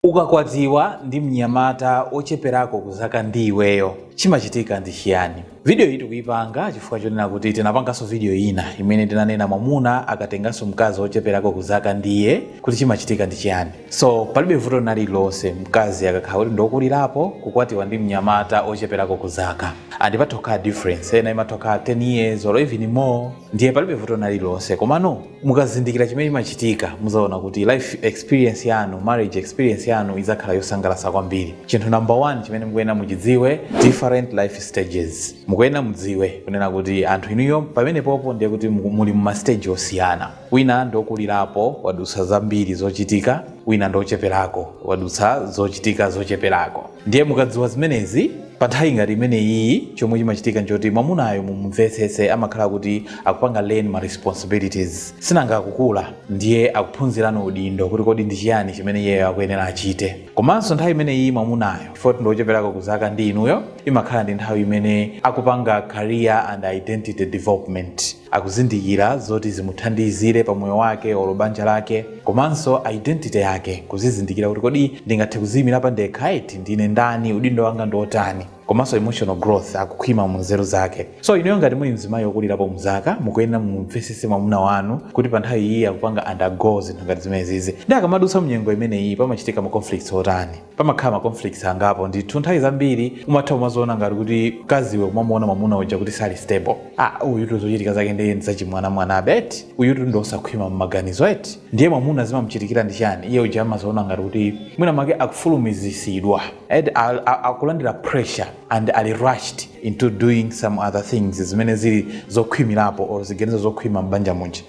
Ukakwatiwa ndi mnyamata wocheperako ku zaka ndi iweyo, chimachitika ndi chiyani? Video iyi tikuyipanga chifukwa chonena kuti tinapanganso video ina imene tinanena mwamuna akatenganso mkazi wocheperako ku zaka ndi iye kuti chimachitika ndi chiyani. So palibe vuto lina lililonse mkazi akakhala kuti ndi wokulirapo kukwatiwa ndi mnyamata wocheperako ku zaka. And imathokhala difference, ena imathokhala 10 years or even more. ndiye palibe vuto lina lililonse komano mukazindikira chimene chimachitika muzaona kuti life experience yanu marriage experience yanu izakhala yosangalasa kwambiri chinthu number one chimene mukuyenera muchidziwe different life stages mukuyenera mudziwe kunena kuti anthu inuyo pamenepopo ndiye kuti muku- muli mumastage osiyana wina ndiokulirapo wadutsa zambiri zochitika wina ndiocheperako wadutsa zochitika zocheperako ndiye mukadziwa zimenezi Pa nthawi ngati imeneyiyi chomwe chimachitika nchoti mwamunayo mumumvetsetse amakhala kuti akupanga learn ma responsibilities sinanga akukula ndiye akuphunzira no udindo kuti kodi ndi chiyani chimene iyeyo akuyenera achite komanso nthawi imeneyiyi mwamunayo chifukwa ndi ocheperako ku zaka ndi inuyo imakhala ndi nthawi imene akupanga career and identity development akuzindikira zoti zimuthandizire pa moyo wake olo banja lake komanso identity yake, kuzizindikira kuti kodi ndingathe kuziimira pandekha eti, ndine ndani, udindo wanga ndi otani, komanso emotional growth, akukhwima mu nzeru zake. So inuyo ngati muli mzimayi okulirapo mu zaka, mukuyenera mumumvesese mwamuna wanu kuti pa nthawi iyi akupanga undergo zinthu ngati zimenezizi, nde akamadutsa mu nyengo imeneyi pamachitika ma conflicts otani. pamakhala ma conflicts angapo ndithu nthawi zambiri umatha umaziona ngati kuti mkaziwe umamuona mwamuna uja kuti sali stable ah uyutu zochitika zake ndiye ndi zachimwanamwanabe eti uyutu ndi osakhwima mmaganizo eti ndiye mwamuna zimamuchitikira ndi chiyani iye uja amaziona ngati kuti mwina make akufulumizisidwa eti a- a- akulandira pressure and ali rushed into doing some other things zimene zili zokhwimirapo or ziganizo zokhwima m'banja muja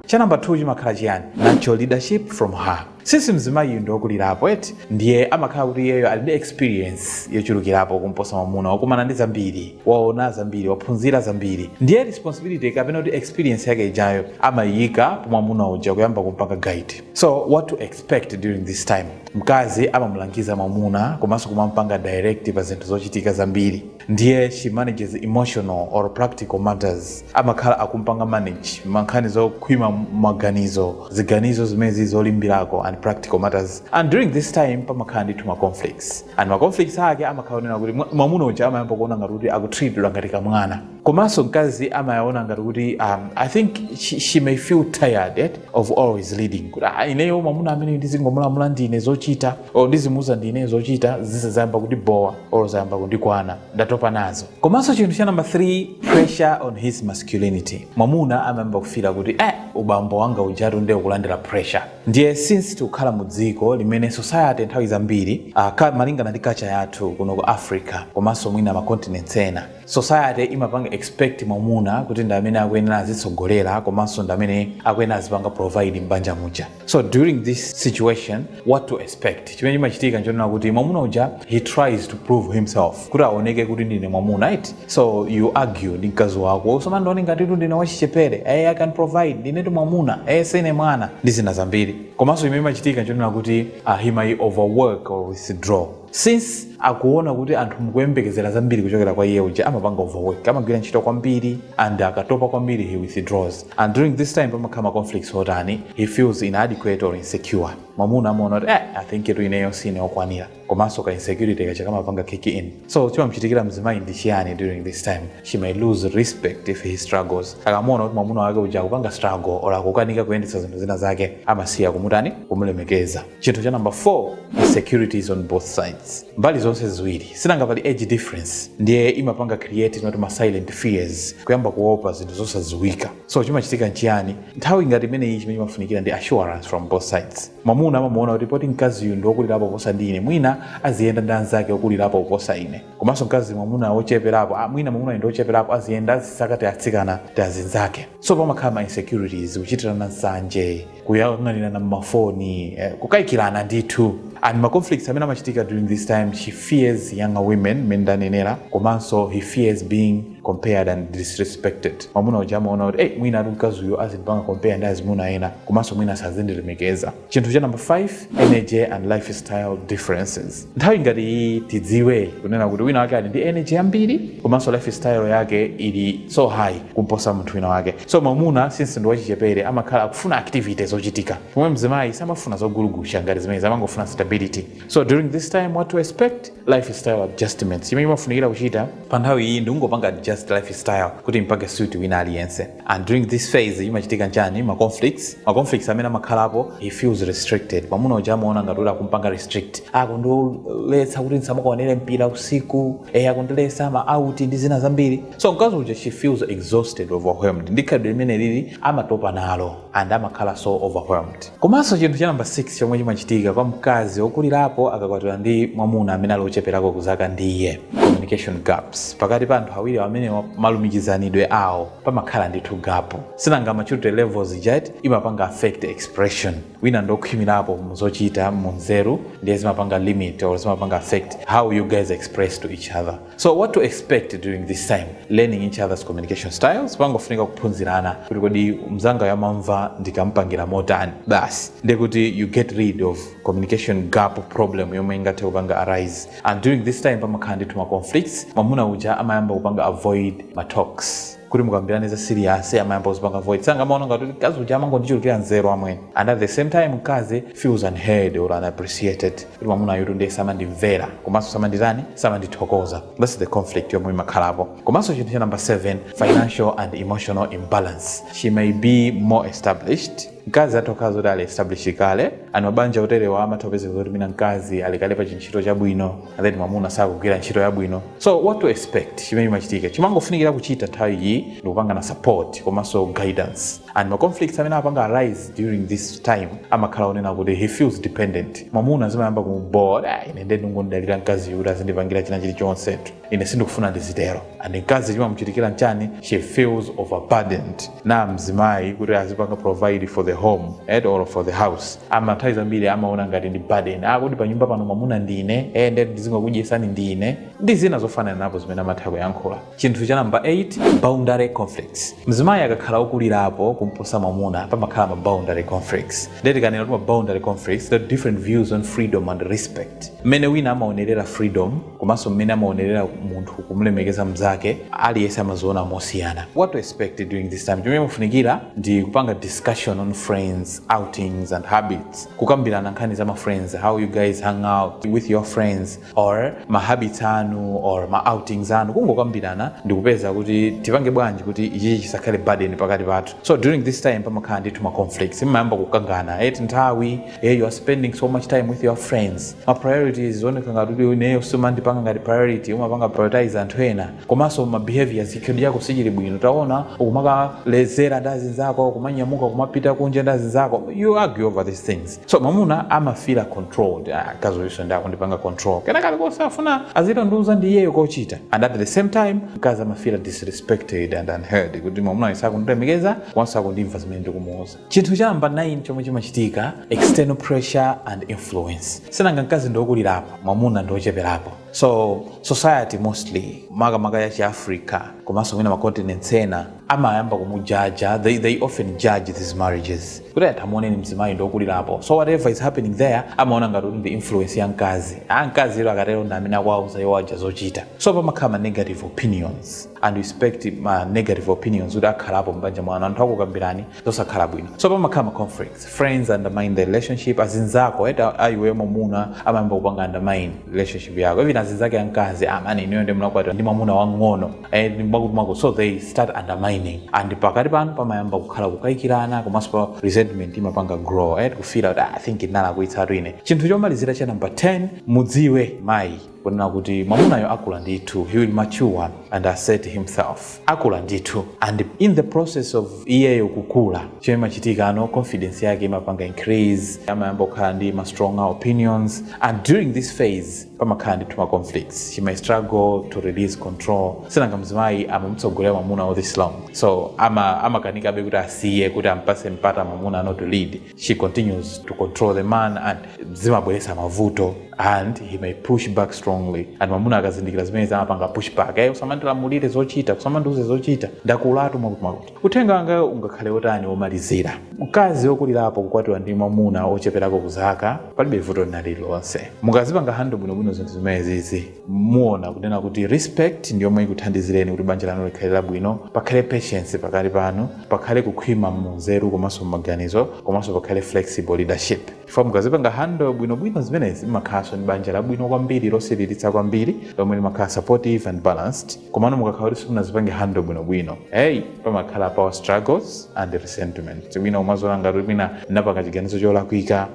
cha namba 2 chimakhala chiyani natural leadership from her since mzimayiyu ndi wokulirapo eti ndiye amakhala kuti iyeyo ali ndi experience yochulukirapo kumposa mwamuna wakumana ndi zambiri waona zambiri waphunzira zambiri ndiye responsibility kapena kuti experience yake ijayo amayiyika pa mwamuna uja kuyamba kumpanga guide so what to expect expect during this time mkazi amamulangiza mwamuna komanso kumampanga direct pa zinthu zochitika zambiri ndiye she manages emotional or practical matters amakhala akumpanga manage mankhani zokhwima maganizo ziganizo zimenezi zolimbirako and practical matters and during this time pamakhala ndithu ma conflicts and ma conflicts ake amakhala onena kuti mwa- mwamuna uja amayamba kuona ngati kuti akutreatedwa ngati kamwana komanso mkazi amayaona ngati kuti um, i think she, she may feel tired eh, of always leading kuti ah, ineyo mwamuna amene ndizingomulamula ndine zochita or ndizimuuza ndine zochita izi zayamba kundibowa or zayamba kundikwana ndatopa nazo komanso chinthu cha namba 3 pressure on his masculinity mwamuna amayamba kufeela kuti eh, ubambo wanga ujatu ndiye ukulandira pressure ndiye since tikukhala mu dziko limene society nthawi zambiri uh, malingana ndi culture yathu kuno ku africa komanso mwina macontinents ena society imapanga expect mwamuna kuti ndi amene akuyenera azitsogolera komanso ndi amene akuyenera azipanga provide m'banja muja so during this situation what to expect chimene chimachitika nchonena kuti mwamuna uja he tries to prove himself kuti aoneke kuti ndine mwamuna right so you argue ndi mkazi wako usamandione ngatitu ndine wachichepere hey, i can provide ndinetu mwamuna hey, sine mwana ndi zina zambiri komanso chimene chimachitika nchonena kuti uh, he may overwork or withdraw Since akuona kuti anthu akuyembekezera zambiri kuchokera kwa iye uja amapanga overwork, amagwira ntchito kwambiri and akatopa kwambiri he withdraws and during this time pamakhala ma conflicts otani he feels inadequate or insecure. Mwamuna amaona kuti eh, I think tu ineyo sine okwanira komanso ka insecurity kaja kamapanga kick in. So chimamuchitikira mzimayi ndi chiyani during this time? She may lose respect if he struggles. Akamuona kuti mwamuna wake uja akupanga struggle or akukanika kuyendetsa zinthu zina zake amasiya kumutani kumulemekeza. chinthu cha number 4 insecurities on both sides mbali zonse ziwiri sinanga pali age difference ndiye imapanga create eti ma silent fears kuyamba kuopa zinthu zosadziwika so chimachitika nchiyani nthawi ngati imeneyi chimene chimafunikira ndi assurance from both sides mwamuna amamuona kuti poti mkaziyu ndi wokulirapo kuposa ndi ine mwina aziyenda ndi anzake okulirapo kuposa ine komanso mkazi mwamuna wocheperapo ah, mwina mwamuna ndi wocheperapo aziyenda azisaka tiatsikana tiazinzake so pamakhala ma insecurities kuchitirana nsanje kuyang'anirana mmafoni eh, kukaikirana ndithu and ma conflicts amene amachitika during this time she fears younger women mmene ndanenera komanso he fears being compared and disrespected mwamuna uja amaona kuti hey, mwina eti mkazi uyu azindipanga compare ndi azimuna ena komanso mwina sazindilemekeza chinthu cha number 5 energy and lifestyle differences nthawi ngati iyi tidziwe kunena kuti wina wake ali ndi energy yambiri komanso lifestyle yake ili so high kumposa munthu wina wake so mwamuna since ndi wachichepere amakhala akufuna activity zochitika pomwe mzimayi samafuna zogulugucha ngati zimenezi amangofuna stability so during this time what to expect lifestyle adjustments chimene chimafunikira kuchita pa nthawi iyi ndikungopanga adjust lifestyle kuti ipange suit wina aliyense and during this phase chimachitika nchani ma conflicts ma conflicts amene amakhalapo he feels restricted mwamuna uja amaona ngati kuti akumpanga restrict akundiletsa kuti ndisamakaonere mpira usiku eh akundiletsa ma out ndi zina zambiri so mkazi uja she feels exhausted overwhelmed ndi khalidwe limene lili amatopa nalo and amakhala so overwhelmed. Komanso chinthu cha number 6 chomwe chimachitika kwa mkazi wokulirapo akakwatiwa ndi mwamuna amene ali ocheperako ku zaka ndi iye, communication gaps, pakati pa anthu awiri amenewa malumikizanidwe awo pamakhala ndithu gapu. Sinanga maturity levels ija eti imapanga affect expression. Wina ndi okhwimirapo mu zochita, mu nzeru ndiye zimapanga limit or zimapanga affect how you guys express to each other. So what to expect during this time learning each other's communication styles, pangofunika kuphunzirana kuti kodi mzangayu amamva ndikamampangira motani basi ndi kuti you get rid of communication gap problem yomwe ingathe kupanga arise and during this time pamakhala ndithu ma conflicts mwamuna uja amayamba kupanga avoid ma talks kuti mukambirane za siliyasi amayamba kuzipanga avoid sinanga amaona ngati kuti mkazi uja amangondichulukira nzeru amwene and at the same time mkazi feels unheard or unappreciated kuti mwamuna uyutu ndiye samandimvera komanso samanditani samandithokoza that's the conflict yomwe imakhalapo komanso chinthu cha number 7 financial and emotional imbalance she may be more established Mkazi atha kukhala zoti ali established kale and mabanja oterewa amatha kupezeka zoti mwina mkazi ali kale pa chintchito chabwino and then mwamuna sakugwira ntchito yabwino so what to expect chimene chimachitika chimangofunikira kuchita nthawi iyi ndikupangana support komanso guidance and ma conflicts amene apanga arise during this time amakhala onena kuti he feels dependent mwamuna zimayamba kumubora ine ndiye ndingodalira mkazi uyu kuti azindipangira china chilichonsetu ine sindikufuna ndizitero and mkazi chimamuchitikira nchani she feels overburdened na mzimayi kuti azipanga provide for the home or for the house ama nthawi zambiri amaona ngati ndi burden ah kodi panyumba pano mwamuna ndine eh nde ndizingokudyesani ndine ndi zina zofananapo zimene amatha kuyankhula chinthu cha namba 8 boundary conflicts mzimayi akakhala okulirapo kumposa mwamuna pamakhala ma boundary conflicts nde tikanena kuti ma boundary conflicts the different views on freedom and respect mmene wina amaonerera freedom komanso mmene amaonerera munthu kumlemekeza mnzake aliyense amaziona mosiyana what to expect during this time chomwe chimafunikira ndi kupanga discussion on friends outings and habits kukambirana nkhani za ma friends how you guys hang out with your friends or ma habits anu or ma outings anu kungokambirana ndi kupeza kuti tipange bwanji kuti ichichi chisakhale burden pakati pathu so during this time pamakhala ndithu ma conflicts mumayamba kukangana eti nthawi yeah, you are spending so much time with your friends ma priorities zioneka ngati kuti ineyo sumandipanga ngati priority umapanga prioritize anthu ena komanso ma behaviors chikhalidwe chako sichili bwino taona ukumakalezera ndi azinzako kumanyamuka kumapita kunja ndi azinzako you argue over these things so mamuna amafila controlled ah, mkazi uyunso ndiye akundipanga control kena kalikonse afuna azichita kundiuza ndi iyeyo kochita and at the same time mkazi amafila disrespected and unheard kuti mamuna uyu sakundilemekeza komanso sakundimva zimene ndikumuuza Chinthu cha namba 9 chomwe chimachitika, External pressure and influence. Si nanga mkazi ndi okulirapo, mwamuna ndi ocheperapo. So, society mostly, makamaka ya chi Africa, komanso mwina ma continents ena, amayamba kumujaja, they, they often judge these marriages. Kuti ayi tamuoneni mzimayiyo ndi okulirapo. So whatever is happening there, amaona ngati kuti nde influence ya mkazi. Ah, mkazi uyo akatero ndi amene akuwauza iwo aja zochita. So pamakhala ma negative opinions. and respect ma negative opinions kuti akhalapo m'banja mwanu anthu akukambirani zosakhala bwino so pamakhala ma conflicts friends undermine the relationship azinzako eti a iwe mwamuna amayamba kupanga undermine relationship yako even azinzake amkazi amani inuyo ndi munakwatira ndi mwamuna wang'ono eh, ndi mwakutimwakuti so they start undermining and pakati panu pamayamba kukhala kukayikirana komanso pa resentment imapanga grow eh, kufila kuti "Ah, i think ndinalakwitsa atwine chinthu chomalizira cha number 10 mudziwe amayi kunena kuti mwamunayo akula ndithu he will mature and assert himself akula ndithu and in the process of iyeyo kukula chimene chimachitika ano confidence yake imapanga increase amayamba kukhala ndi ma stronger opinions and during this phase pamakhala ndithu ma conflicts she may struggle to release control si nanga mzimayi amamutsogolera mwamuna all this long so ama amakanikabe kuti asiye kuti ampase mpata mwamuna ano to lead she continues to control the man and zimabweretsa mavuto and he may push back strongly and mwamuna akazindikira zimenezi amapanga push back ayi, usamandilamulire zochita usamandiuze zochita ndakulatu mwakuti uthenga wanga ungakhale otani womalizira mkazi wokulirapo kukwatiwa ndi mwamuna ocheperako kuzaka palibe vuto lina lililonse mukazipanga handle bwinobwino zinthu zimenezizi muona kunena kuti respect ndi yomwe ikuthandizireni kuti banja lanu likhale labwino pakhale patience pakati panu pakhale kukhwima munzeru komanso mmaganizo komanso pakhale flexible leadership chifukwa mukazipanga handle bwinobwino zimenezi mmakhalanso ndi banja labwino kwambiri losiririka kwambiri lomwe limakhala supportive and balanced komano mukakhala kuti simunazipange handle bwinobwino hey pamakhala power struggles and resentment mwina umadziona ngati mwina unapanga chiganizo cholakwika